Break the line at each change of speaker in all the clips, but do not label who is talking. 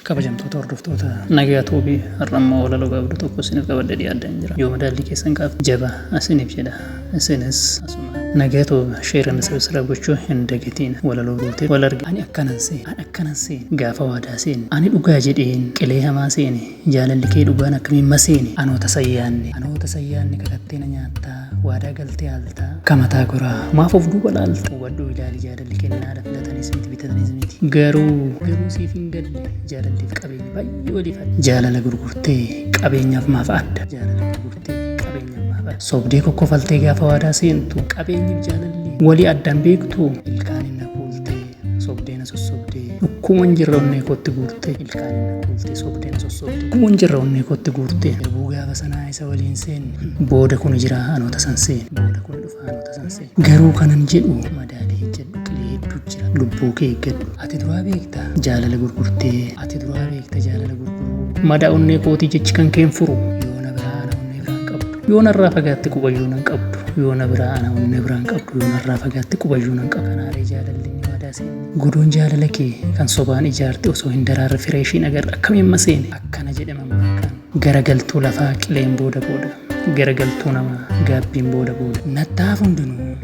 Kabajamtoota hordoftoota Nagaya Tube har'a immoo walaloo gaabduu tokko isiniif qabadhee dhiyaadheen jira. Yoo madaallii keessan kaafte jaba isiniif jedha. Isinis asuma Nagaya Tube share and subscribe gochuu hin dagatiina. Walaloo guutee wal argina. Ani akkanan seene an akkanan seene gaafa waadaa seenne ani dhugaa jedheen qilee hamaa seene jaalalli kee dhugaan akkamiin maseene anoo tasan yaanne anoo tasan yaanne kakattee na nyaattaa waadaa galtee haaltaa akka mataa goraa maaf of duuba laalta hubadhuu ilaali jaadadhuu Bilqinnaadha filatanis miti bitatanis miti. Garuu garuu siif hin galle jaalalleef qabeenya baay'ee waliif adda. Jaalala gurgurtee qabeenyaaf maaf adda. Jaalala gurgurtee qabeenyaaf maaf adda. Sobdee kokkofaltee gaafa waadaa seentu qabeenyiif jaalallee walii addaan beektu ilkaan inni kuultee sobdee na sossobdee dhukkuman jirra onnee kootti guurtee ilkaan inni kuultee sobdee na sossobdee dhukkuman jirra onnee kootti guurtee. Garbuu gaafa sanaa isa waliin seenne booda kun jira anoota san seenne booda kun dhufa. Haalota san se'e. Garuu kanan jedhu madaalee ejjadhu qilee hedduu jira lubbuu kee eeggadhu. Ati duraa beekta jaalala gurgurtee ati duraa beekta jaalala gurguruu. Madaa onnee kootii jechi kan keen furu yoo na biraa ana onnee biraan qabdu yoo narraa fagaatte qubayyuu nan qabdu yoo na biraa ana onnee biraan qabdu yoo narraa fagaatte qubayyuu nan qabdu. Kanaaree jaalalli ni madaa seenne. Godoon jaalala kee kan sobaan ijaarte osoo hin daraarre firee ishiin agarre akkamiin maseene akkana jedhe mammaakkaan. Garagaltuu lafaa qileen booda booda. Garagaltuu namaa gaabbiin booda booda. Natta'aaf hundinuu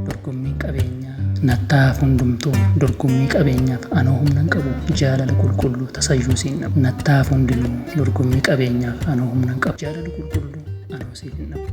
dorgommiin qabeenyaa. Natta'aaf hundumtuu dorgommii qabeenyaaf anoo humnan qabu jaalala qulqulluu tasayyuu siin dhabu. Natta'aaf hundinuu dorgommii qabeenyaaf anoo humnan qabu jaalala qulqulluu anoo siif hin dhabu.